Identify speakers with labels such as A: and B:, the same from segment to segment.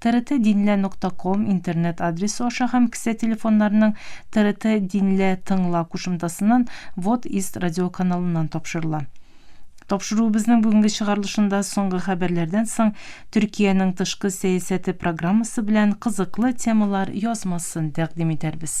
A: TRT Dinle нокта ком интернет адресы аша һәм кесә телефоннарының TRT Dinle тыңла кушымтасыннан Вот Ист радиоканалыннан тапшырыла. Тапшыруыбызның бүгенге чыгарылышында соңгы хәбәрләрдән соң Төркиянең тышкы сәясәте программасы белән кызыклы темалар язмасын тәкъдим итәрбез.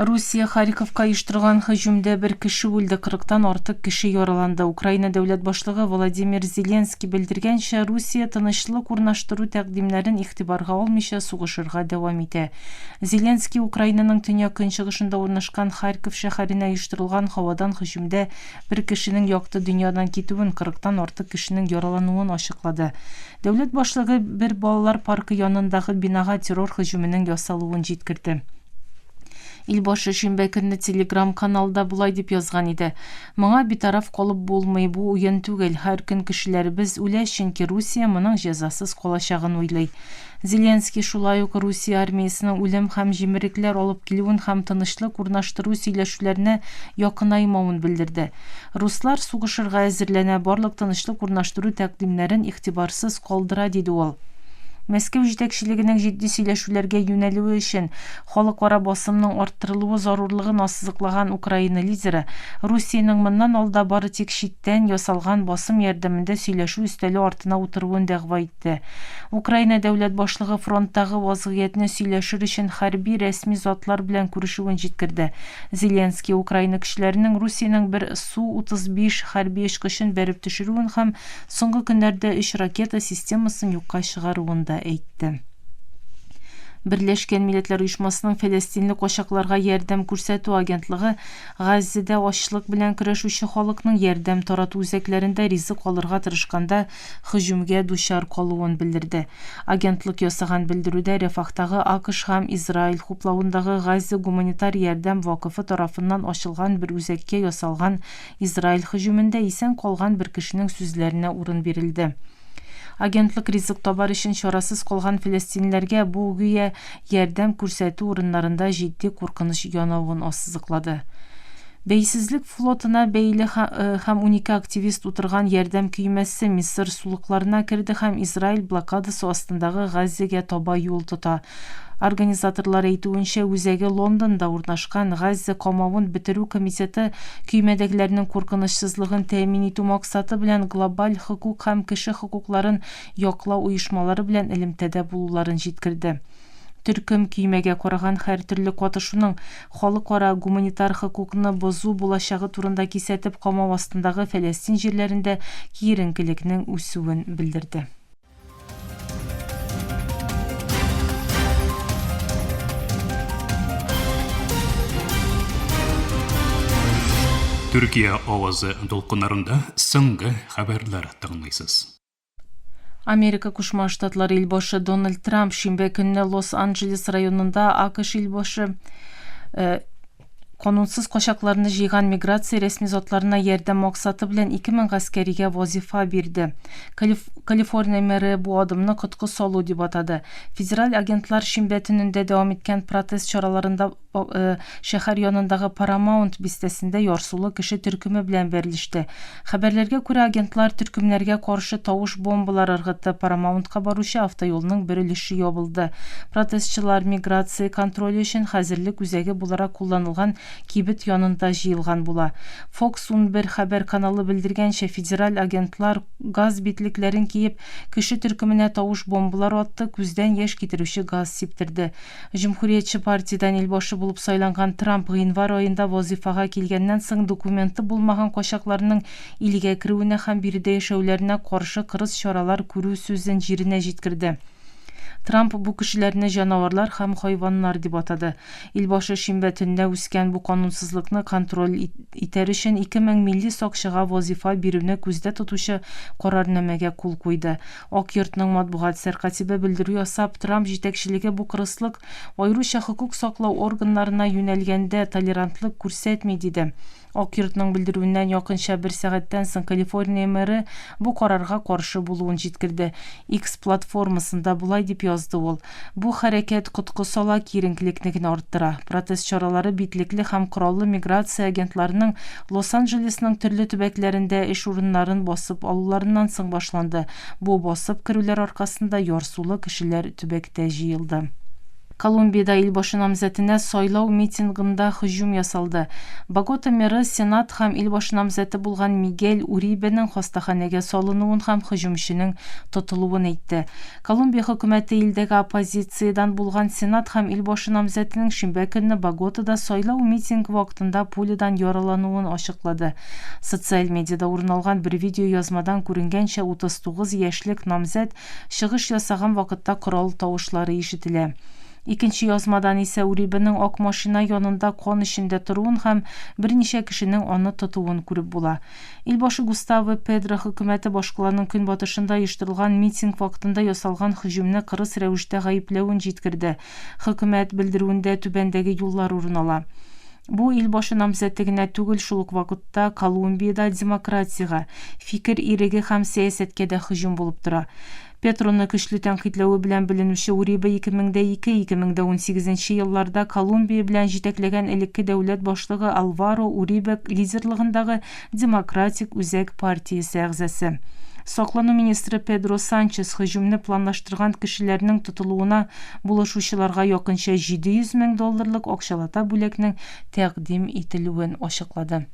A: Русия Харьковка оештырган һөҗүмдә бер кеше үлде, 40 тан артык кеше яраланды. Украина дәүләт башлыгы Владимир Зеленский белдергәнчә, Русия тынычлык урнаштыру тәкъдимнәрен игътибарга алмыйча сугышырга дәвам итә. Зеленский Украинаның төньяк-көнчыгышында урнашкан Харьков шәһәренә оештырылган һавадан һөҗүмдә бер кешенең якты дөньядан китүен, кырыктан артык кешенең яралануын ачыклады. Дәүләт башлыгы бер балалар паркы янындагы бинага террор һөҗүменең ясалуын җиткерде. Ил башы шимбә көнне телеграм-каналда болай дип язган иде, Моңа битараф калып булмый, бу уен түгел. Һәр көн кешеләребез үлә, чөнки Русия моның җәзасыз калачагын уйлый. Зеленский шулай ук Русия армиясенең үлем һәм җимерекләр алып килүен һәм тынычлык урнаштыру сөйләшүләренә якынаймавын белдерде. Руслар сугышырга әзерләнә, барлык тынычлык урнаштыру тәкъдимнәрен игътибарсыз калдыра, диде ул. Мәскәү җитәкчелегенең җитди сөйләшүләргә юнәлүе өчен халыкара басымның арттырылуы зарурлыгын ассызыклаган Украина лидеры, Русиянең моннан алда бары тик читтән ясалган басым ярдәмендә сөйләшү өстәле артына утыруын дәгъва итте. китте. Украина дәүләт башлыгы фронттагы вазгыятьне сөйләшер өчен хәрби рәсми затлар белән күрешүен җиткерде. Зеленский Украина көчләренең Русиянең бер Су-35 хәрби очкычын бәреп төшерүен һәм соңгы көннәрдә өч ракета системасын юкка чыгаруын да әйтте. Берләшкән Милләтләр Оешмасының фәләстинле качакларга ярдәм күрсәтү агентлыгы Газзәдә ачлык белән көрәшүче халыкның ярдәм тарату үзәкләрендә ризык алырга тырышканда һөҗүмгә дучар калуын белдерде. Агентлык ясаган белдерүдә Рәфахтагы АКШ һәм Израиль хуплавындагы Гази гуманитар ярдәм вакыфы тарафыннан ачылган бер үзәккә ясалган Израиль һөҗүмендә исән калган бер кешенең сүзләренә урын бирелде. Агентлык ризык табар өчен чарасыз калган фәләстинләргә бу, гүя, ярдәм күрсәтү урыннарында җитди куркыныч янавын ассызыклады. Бәйсезлек флотына бәйле һәм унике активист утырган ярдәм көймәсе Мисыр сулыкларына керде һәм Израиль блокадасы астындагы Газзәгә таба юл тота. Организаторлар әйтүенчә, үзәге Лондонда урнашкан Газзә камавын бетерү комитеты көймәдәгеләрнең куркынычсызлыгын тәэмин итү максаты белән глобаль хокук һәм кеше хокукларын яклау оешмалары белән элемтәдә булуларын җиткерде. Төркем көймәгә караган һәртөрле катышуның халыкара гуманитар хокукны бозу булачагы турында кисәтеп камау астындагы Фәләстин җирләрендә киеренкелекнең үсүен белдерде.
B: Төркия авазы дулкыннарында соңгы хәбәрләр тыңлыйсыз.
A: Америка Кушма Штатлары илбашы Дональд Трамп шимбә көнне Лос-Анджелес районында АКШ илбашы э, канунсыз качакларны җыйган миграция рәсми затларына ярдәм максаты белән 2000 гаскәригә вазифа бирде. Калиф Калифорния мэры бу адымны коткы салу дип атады. Федераль агентлар шимбә төнендә дәвам иткән протест чараларында Э, шәһәр янындагы Парамаунт бистәсендә ярсулы кеше төркеме белән бәрелеште. Хәбәрләргә күрә, агентлар төркемнәргә каршы тавыш бомбалар ыргытты, Парамаунтка баручы автоюлның бер өлеше ябылды. Протестчылар миграция контроле өчен хәзерлек үзәге буларак кулланылган кибет янында җыелган була. Фокс 11 хәбәр каналы белдергәнчә, федераль агентлар газ битлекләрен киеп, кеше төркеменә тавыш бомбалар атты, күздән яшь китерүче газ сиптерде. Җөмһүриятче партиядән илбашы булып сайланган Трамп гыйнвар аенда вазыйфага килгәннән соң документы булмаган качакларның илгә керүенә һәм биредә яшәүләренә каршы кырыс чаралар күрү сүзен җиренә җиткерде. Трамп бу кешеләрне җанаварлар һәм хайваннар дип атады. Илбашы шимбә төнне үскән бу канунсызлыкны контроль итәр өчен ике мең милли сакчыга вазыйфа бирүне күздә тотучы карарнамәгә кул куйды. Ак йортның матбугат сәркатибе белдерү ясап, Трамп җитәкчелеге бу кырыслык, аеруча хокук саклау органнарына юнәлгәндә, толерантлык күрсәтми, диде. Ак йортның белдерүеннән якынча бер сәгатьтән соң Калифорния мэры бу карарга каршы булуын җиткерде. Икс платформасында болай дип язды ул, Бу хәрәкәт коткы сала, киеренкелекне генә арттыра. Протест чаралары битлекле һәм кораллы миграция агентларының Лос-Анджелесның төрле төбәкләрендә эш урыннарын басып алуларыннан соң башланды. Бу басып керүләр аркасында ярсулы кешеләр төбәктә җыелды. Колумбиядә илбашы намзәтенә сайлау митингында һөҗүм ясалды. Богота мэры Сенат һәм илбашы намзәте булган Мигель Урибеның хастаханәгә салынуын һәм һөҗүмченең тотылуын әйтте. Колумбия хөкүмәте илдәге оппозициядән булган сенат һәм ил башы намзәтенең шимбә көнне Боготада сайлау митингы вакытында пулядан яралануын ачыклады. Социаль медиада урын алган бер видеоязмадан күренгәнчә, 39 яшьлек намзәт чыгыш ясаган вакытта корал тавышлары ишетелә. Икенче язмадан исә Урибенең ак машина янында кан эчендә торуын һәм берничә кешенең аны тотуын күреп була. Ил башы Густаво Педро хөкүмәте башкаланың көнбатышында оештырылган митинг вакытында ясалган һөҗүмне кырыс рәвештә гаепләвен җиткерде. Хөкүмәт белдерүендә түбәндәге юллар урын ала. Бу ил башы намзәте генә түгел, шул ук вакытта Колумбиядә демократиягә, фикер иреге һәм сәясәткә дә һөҗүм булып тора. Петроны көчле тәнкыйтьләве белән беленүче Уриба 2002-2018 елларда Колумбия белән җитәкләгән элекке дәүләт башлыгы Алваро Урибе лидерлыгындагы Демократик үзәк партиясе әгъзасы. Саклану министры Педро Санчес һөҗүмне планлаштырган кешеләрнең тотылуына булышучыларга якынча 700 мең долларлык акчалата бүләкнең тәкъдим ителүен ачыклады.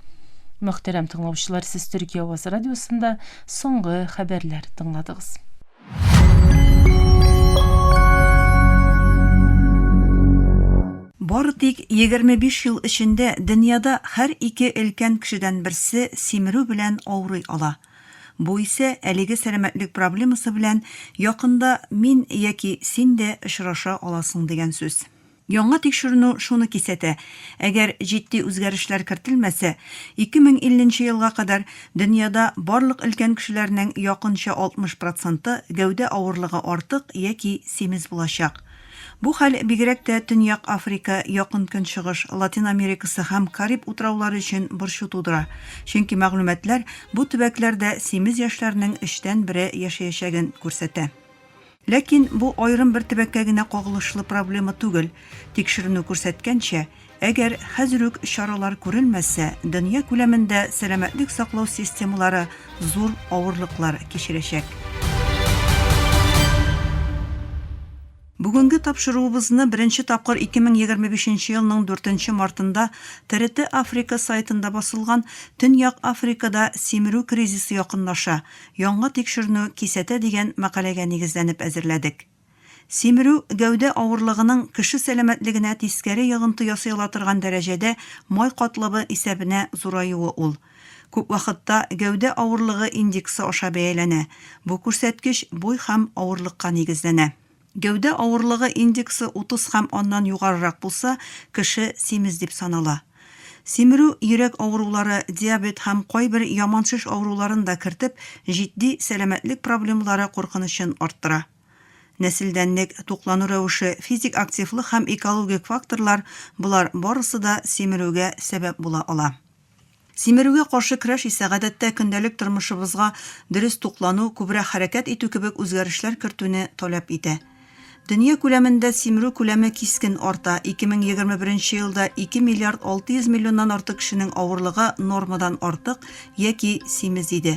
A: Мөхтәрәм тыңлаучылар, сез Төркия авазы радиосында соңгы хәбәрләр тыңладыгыз.
C: Бары тик 25 ел эчендә дөньяда һәр ике өлкән кешедән берсе симерү белән авырый ала. Бу исә әлеге сәламәтлек проблемасы белән якында мин яки син дә очраша аласың дигән сүз. Яңа тикшеренү шуны кисәтә, әгәр җитди үзгәрешләр кертелмәсә, 2050 нче елга кадәр дөньяда барлык өлкән кешеләрнең якынча 60 проценты гәүдә авырлыгы артык яки симез булачак. Бу хәл бигрәк тә Төньяк Африка, Якын Көнчыгыш, Латин Америкасы һәм Кариб утраулары өчен борчу тудыра, чөнки мәгълүматлар бу төбәкләрдә симез яшьләрнең өчтән бере яшәячәген күрсәтә. Ләкин бу аерым бер төбәккә генә кагылышлы проблема түгел. Тикшеренү күрсәткәнчә, әгәр хәзер үк чаралар күрелмәсә, дөнья күләмендә сәламәтлек саклау системалары зур авырлыклар кичерәчәк. Бүгенге тапшыруыбызны беренче тапкыр 2025 нче елның 4 нче мартында TRT Africa сайтында басылган Төньяк Африкада симерү кризисы якынлаша, яңа тикшернү кисәтә дигән мәкаләгә нигезләнеп әзерләдек. Симерү гәүдә авырлыгының кеше сәламәтлегенә тискәре йогынты ясый ала торган дәрәҗәдә май катлавы исәбенә зураюы ул. Күп вакытта гәүдә авырлыгы индексы аша бәяләнә, бу күрсәткеч буй һәм авырлыкка нигезләнә. Гәүдә авырлыгы индексы 30 һәм аннан югарырак булса, кеше симез дип санала. Симерү йөрәк авырулары, диабет һәм кайбер яман шеш авыруларын да кертеп, җитди сәламәтлек проблемалары куркынычын арттыра. Нәселдәнлек, туклану рәвеше, физик активлык һәм экологик факторлар, болар барысы да симерүгә сәбәп була ала. Симерүгә каршы көрәш исә гадәттә көндәлек тормышыбызга дөрес туклану, күбрәк хәрәкәт итү кебек үзгәрешләр кертүне таләп итә. Дөнья күләмендә симерү күләме кискен арта, 2021 елда 2 миллиард 600 миллионнан артык кешенең авырлыгы нормадан артык яки симез иде.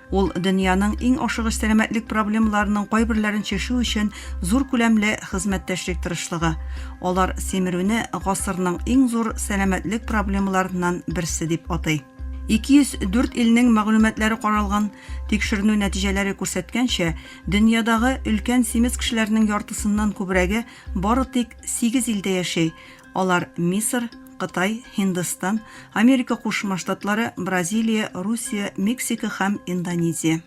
C: Ул дөньяның иң ашыгыч сәламәтлек проблемаларының кайберләрен чишү өчен зур күләмле хезмәттәшлек тырышлыгы. Алар симерүне гасырның иң зур сәламәтлек проблемаларыннан берсе дип атый. 204 илнең мәгълүматлары каралган. Тикшеренү нәтиҗәләре күрсәткәнчә, дөньядагы өлкән симез кешеләрнең яртысыннан күбрәге бары тик сигез илдә яши, Алар Мисыр, Кытай, Һиндстан, Америка Кушма Штатлары, Бразилия, Русия, Мексика һәм Индонезия.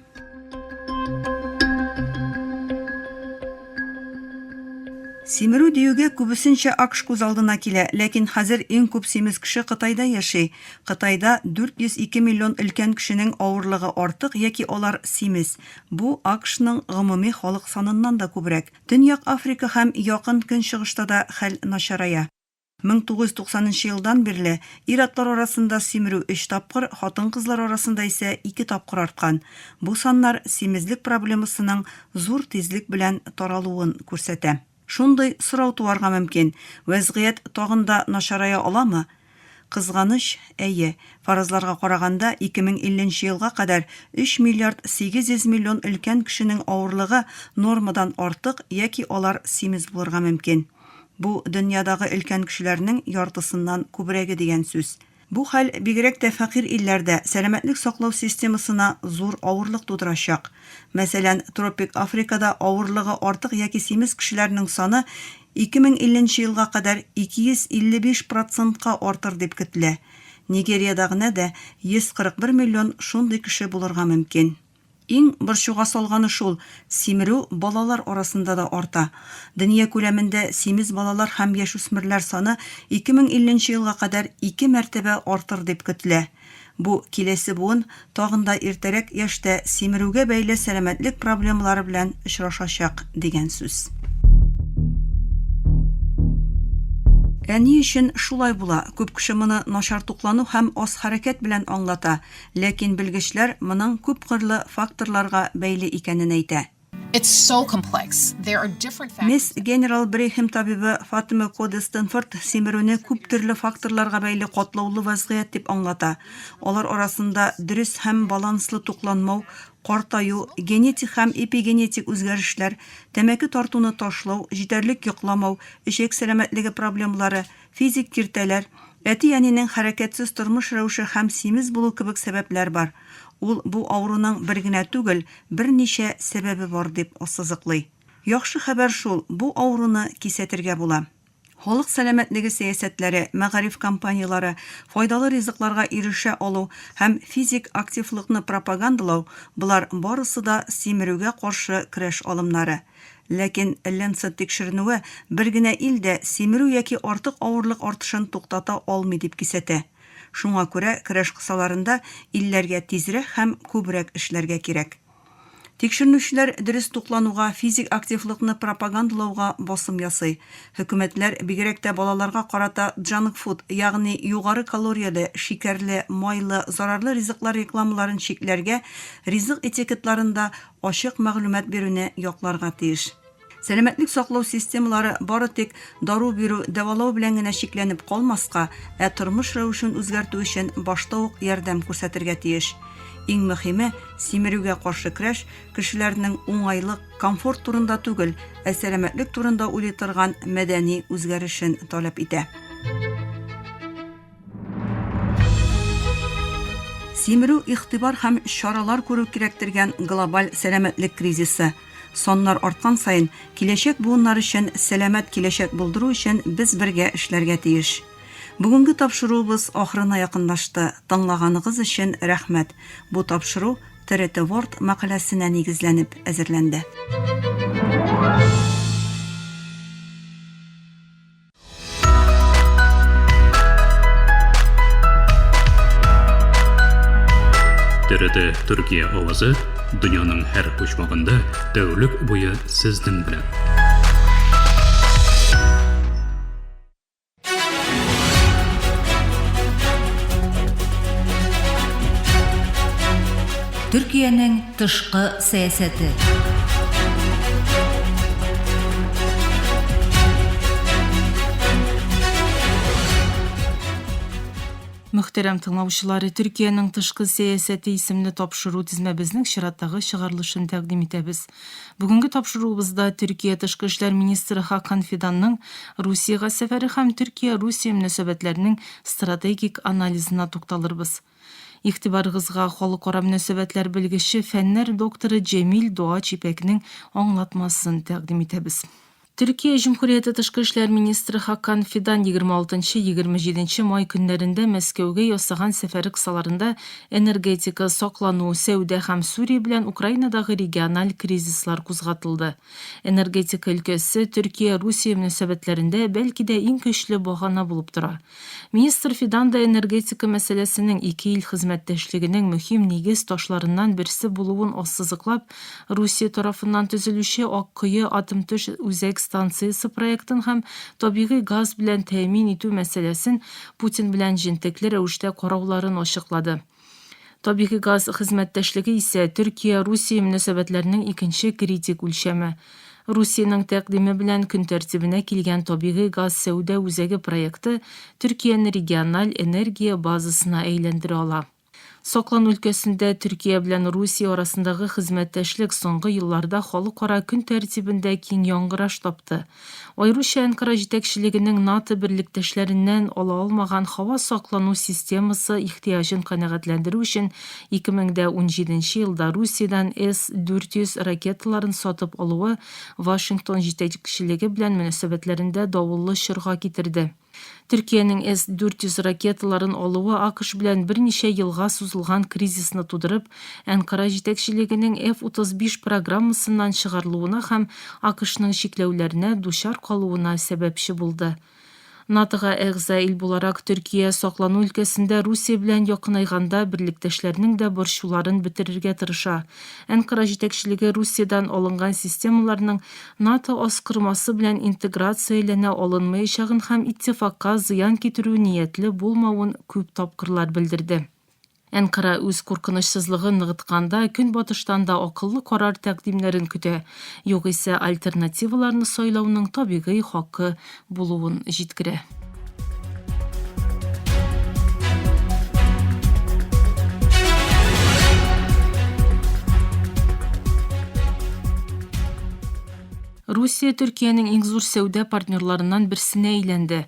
C: Симерү диюгә күбесенчә акш күз алдына килә, ләкин хәзер иң күп симез кеше Кытайда яши. Кытайда 402 миллион өлкән кешенең авырлыгы артык яки алар симез. Бу акшның гомуми халык саныннан да күбрәк. Төньяк Африка һәм Якын Көнчыгышта да хәл начарая. 1990 нчы елдан бирле ир-атлар арасында симерү өч тапкыр, хатын-кызлар арасында исә ике тапкыр арткан. Бу саннар симезлек проблемасының зур тизлек белән таралуын күрсәтә. Шундый сорау туарга мөмкин, вәзгыять тагын да начарая аламы? Кызганыч, әйе, фаразларга караганда, 2050 нче елга кадәр 3 миллиард 800 миллион өлкән кешенең авырлыгы нормадан артык яки алар симез булырга мөмкин. Бу, дөньядагы өлкән кешеләрнең яртысыннан күбрәге дигән сүз. Бу хәл, бигрәк тә фәкыйрь илләрдә, сәламәтлек саклау системасына зур авырлык тудырачак. Мәсәлән, тропик Африкада авырлыгы артык яки симез кешеләрнең саны 2050 нче елга кадәр 255 процентка артыр дип көтелә. Нигериядә генә дә 141 миллион шундый кеше булырга мөмкин. Иң борчуга салганы шул, симерү балалар арасында да арта. Дөнья күләмендә симез балалар һәм яшүсмерләр саны 2050 нче елга кадәр ике мәртәбә артыр дип көтелә. Бу киләсе буын тагын да иртәрәк яшьтә симерүгә бәйле сәламәтлек проблемалары белән очрашачак, дигән сүз. Ә ни өчен шулай була? Күп кеше моны начар туклану һәм аз хәрәкәт белән аңлата, ләкин белгечләр моның күпкырлы факторларга бәйле икәнен әйтә.
D: Мисс Генерал Брехем
C: табибы Фатима Коде Стэнфорд симерүне күп төрле факторларга бәйле катлаулы вазгыять дип аңлата. Алар арасында дөрес һәм баланслы тукланмау, картаю, генетик һәм эпигенетик үзгәрешләр, тәмәке тартуны ташлау, җитәрлек йокламау, эчәк сәламәтлеге проблемалары, Физик киртәләр, әти-әнинең хәрәкәтсез тормыш рәвеше һәм симез булу кебек сәбәпләр бар. Ул бу авыруның бер генә түгел, берничә сәбәбе бар, дип ассызыклый. Яхшы хәбәр шул, бу авыруны кисәтергә була. Халык сәламәтлеге сәясәтләре, мәгариф кампанияләре, файдалы ризыкларга ирешә алу һәм физик активлыкны пропагандалау, болар барысы да симерүгә каршы көрәш алымнары. Ләкин Lancet тикшеренүе бер генә ил дә симерү яки артык авырлык артышын туктата алмый дип кисәтә. Шуңа күрә көрәш кысаларында илләргә тизрәк һәм күбрәк эшләргә кирәк. Тикшеренүчеләр дөрес туклануга, физик активлыкны пропагандалауга басым ясый. Хөкүмәтләр, бигрәк тә балаларга карата джанкфуд, ягъни югары калорияле, шикәрле, майлы, зарарлы ризыклар рекламаларын чикләргә, ризык этикетларын да ачык мәгълүмат бирүне якларга тиеш. Сәламәтлек саклау системалары бары тик дару бирү, дәвалау белән генә чикләнеп калмаска, ә тормыш рәвешен үзгәртү өчен башта ук ярдәм күрсәтергә тиеш. Иң мөһиме, симерүгә каршы көрәш кешеләрнең уңайлык, комфорт турында түгел, ә сәламәтлек турында уйлый торган мәдәни үзгәрешен таләп итә. Симерү, игътибар һәм чаралар күрү кирәк дигән глобаль сәламәтлек кризисы. Саннар арткан саен, киләчәк буыннар өчен сәламәт киләчәк булдыру өчен без бергә эшләргә тиеш. Бүгенге тапшыруыбыз ахырына якынлашты. Тыңлаганыгыз өчен рәхмәт. Бу тапшыру TRT World мәкаләсенә нигезләнеп әзерләнде.
B: Дәрәдә Төркия авазы дөньяның һәр почмагында тәүлек буе сезнең белән.
E: Төркиянең тышкы сәясәте.
A: Мөхтәрәм тыңлаучылары, Төркиянең тышкы сәясәте исемле тапшыру тезмәбезнең чираттагы чыгарылышын тәкъдим итәбез. Бүгенге тапшыруыбызда Төркия тышкы эшләр министры Хакан Фиданның Русиягә сәфәре һәм Төркия-Русия мөнәсәбәтләренең стратегик анализына тукталырбыз. Игътибарыгызга халыкара мөнәсәбәтләр белгече, фәннәр докторы Җәмил Доач Ипәкнең аңлатмасын тәкъдим итәбез. Төркия Җөмһүрияте тышкы эшләр министры Хакан Фидан егерме алтынчы, егерме җиденче май көннәрендә Мәскәүгә ясаган сәфәре кысаларында энергетика, саклану, сәүдә һәм Сүрия белән Украинадагы региональ кризислар кузгатылды. Энергетика өлкәсе Төркия-Русия мөнәсәбәтләрендә, бәлки дә, иң көчле багана булып тора. Министр Фидан да энергетика мәсьәләсенең ике ил хезмәттәшлегенең мөһим нигез ташларыннан берсе булуын ассызыклап, Русия тарафыннан төзелүче Аккое атомтөш үзәк станциясе проектын һәм табигый газ белән тәэмин итү мәсьәләсен Путин белән җентекле рәвештә карауларын ачыклады. Табигый газ хезмәттәшлеге исә Төркия-Русия мөнәсәбәтләренең икенче критик үлчәме. Русиянең тәкъдиме белән көн тәртибенә килгән табигый газ сәүдә үзәге проекты Төркияне региональ энергия базасына әйләндерә ала. Саклан өлкәсендә Төркия белән Русия арасындагы хезмәттәшлек соңгы елларда халыкара көн тәртибендә киң яңгыраш тапты. Аеруча Әнкара җитәкчелегенең НАТО берлектәшләреннән ала алмаган һава саклану системасы ихтыяҗын канәгатьләндерү өчен 2017 елда Русиядән С-400 ракеталарын сатып алуы Вашингтон җитәкчелеге белән мөнәсәбәтләрендә давыллы чорга китерде. Төркиянең С-400 ракеталарын алуы АКШ белән берничә елга сузылган кризисны тудырып, Әнкара җитәкчелегенең F-35 программасыннан чыгарылуына һәм АКШның чикләүләренә дучар калуына сәбәпче булды. НАТОга әгъза ил буларак, Төркия саклану өлкәсендә Русия белән якынайганда берлектәшләрнең дә борчуларын бетерергә тырыша. Әнкара җитәкчелеге Русиядән алынган системаларның НАТО аскырмасы белән интеграцияләнә алынмаячагын һәм иттифакка зыян китерү ниятле булмавын күп тапкырлар белдерде. Әнкара үз куркынычсызлыгын ныгытканда Көнбатыштан да акыллы карар тәкъдимнәрен көтә, югыйсә альтернативаларны сайлауның табигый хакы булуын җиткерә. Русия Төркиянең иң зур сәүдә партнерларыннан берсенә әйләнде.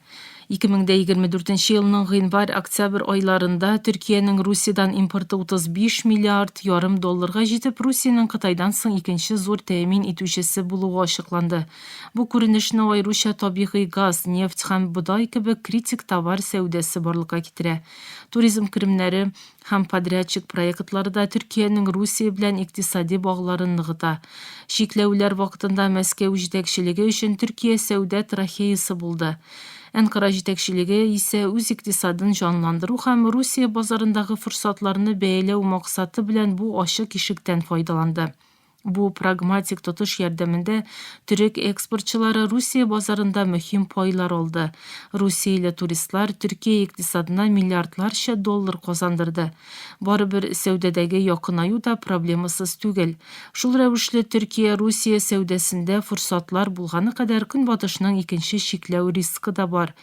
A: 2024 елның гыйнвар-октябрь айларында Төркиянең Русиядән импорты 35 миллиард ярым долларга җитеп, Русиянең Кытайдан соң икенче зур тәэмин итүчесе булуы ачыкланды. Бу күренешне аеруча табигый газ, нефть һәм бодай кебек критик товар сәүдәсе барлыкка китерә. Туризм керемнәре һәм подрядчик проектлары да Төркиянең Русия белән икътисади багларын ныгыта. Чикләүләр вакытында Мәскәү җитәкчелеге өчен Төркия сәүдә трахеясы булды. Әнкара җитәкчелеге исә үз икътисадын җанландыру һәм Русия базарындагы форсатларны бәяләү максаты белән бу ачык ишектән файдаланды. Бу прагматик тотыш ярдәмендә төрек экспортчылары Русия базарында мөһим пайлар алды. Русияле туристлар Төркия икътисадына миллиардларча доллар казандырды. Барыбер сәүдәдәге якынаю да проблемасыз түгел. Шул рәвешле Төркия Русия сәүдәсендә форсатлар булганы кадәр Көнбатышның икенче чикләү рискы да бар.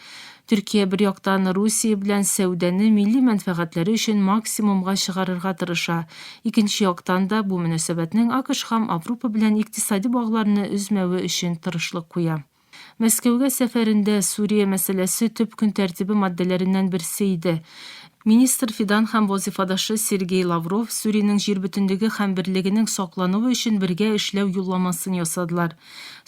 A: Төркия, бер яктан, Русия белән сәүдәне милли мәнфәгатьләре өчен максимумга чыгарырга тырыша, икенче яктан да, бу мөнәсәбәтнең АКШ һәм Авропа белән икътисади багларны өзмәве өчен тырышлык куя. Мәскәүгә сәфәрендә Сүрия мәсьәләсе төп көн тәртибе маддәләреннән берсе иде. Министр Фидан һәм вазыйфадашы Сергей Лавров Сүриянең җир бөтенлеге һәм берлегенең саклануы өчен бергә эшләү юлламасын ясадылар.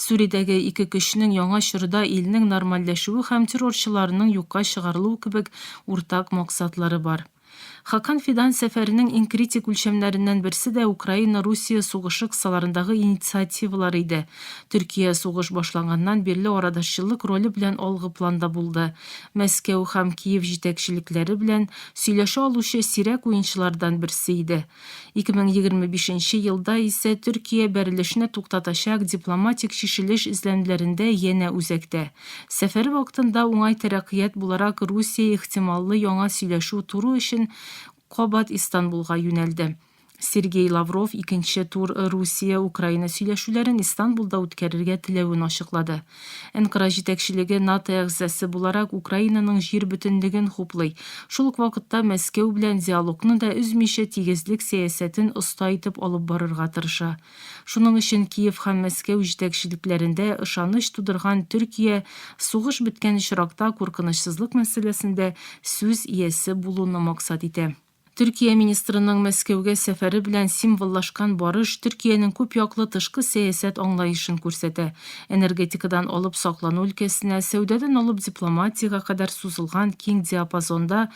A: Сүриядәге ике көчнең яңа чорда илнең нормальләшүе һәм террорчыларның юкка чыгарылуы кебек уртак максатлары бар. Хакан Фидан сәфәренең иң критик үлчәмнәреннән берсе дә Украина-Русия сугышы кысаларындагы инициативалар иде. Төркия сугыш башланганнан бирле арадашчылык роле белән алгы планда булды. Мәскәү һәм Киев җитәкчелекләре белән сөйләшә алучы сирәк уенчылардан берсе иде. 2025 нче елда исә Төркия бәрелешне туктатачак дипломатик чишелеш эзләнүләрендә янә үзәктә. Сәфәре вакытында уңай тәрәккыять буларак Русия ихтималлы яңа сөйләшү туру өчен кабат Истанбулга юнәлде. Сергей Лавров икенче тур Русия-Украина сөйләшүләрен Истанбулда үткәрергә теләвен ачыклады. Энкра җитәкчелеге НАТО әгъзасы буларак Украинаның җир бөтенлеген хуплый, шул ук вакытта Мәскәү белән диалогны да өзмичә тигезлек сәясәтен оста итеп алып барырга тырыша. Шуның өчен Киев һәм Мәскәү җитәкчелекләрендә ышаныч тудырган Төркия сугыш беткән очракта куркынычсызлык мәсьәләсендә сүз иясе булуны максат итә. Төркия министрының Мәскәүгә сәфәре белән символлашкан барыш Төркиянең күпьяклы тышкы сәясәт аңлаешын күрсәтә. Энергетикадан алып саклану өлкәсенә, сәүдәдән алып дипломатиягә кадәр сузылган киң диапазонда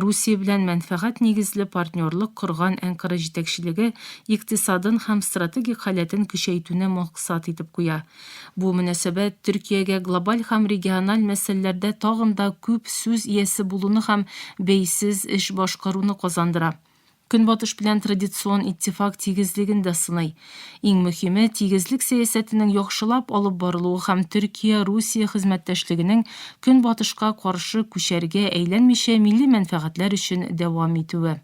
A: Русия белән мәнфәгать нигезле партнерлык корган Әнкара җитәкчелеге икътисадын һәм стратегик халәтен көчәйтүне максат итеп куя. Бу мөнәсәбәт Төркиягә глобаль һәм региональ мәсьәләләрдә тагын да күп сүз иясе булуны һәм бәйсез эш башкаруны казандыра. Көнбатыш белән традицион иттифак тигезлеген дә сыный. Иң мөһиме, тигезлек сәясәтенең яхшылап алып барылуы һәм Төркия-Русия хезмәттәшлегенең Көнбатышка каршы күчәргә әйләнмичә милли мәнфәгатьләр өчен дәвам итүе.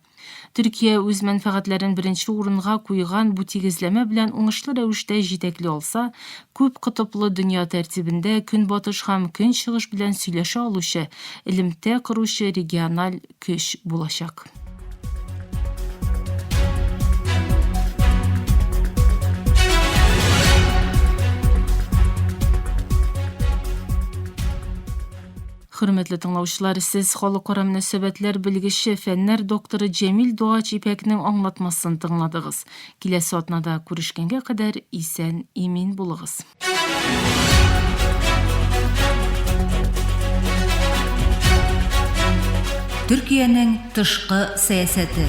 A: Төркия үз мәнфәгатьләрен беренче урынга куйган бу тигезләмә белән уңышлы рәвештә җитәкли алса, күп котыплы дөнья тәртибендә Көнбатыш һәм Көнчыгыш белән сөйләшә алучы, элемтә коручы региональ көч булачак. Хөрмәтле тыңлаучылар, сез халыкара мөнәсәбәтләр белгече, фәннәр докторы Җәмил Дугач Ипәкнең аңлатмасын тыңладыгыз. Киләсе атнада күрешкәнгә кадәр исән, имин булыгыз.
E: Төркиянең тышкы сәясәте.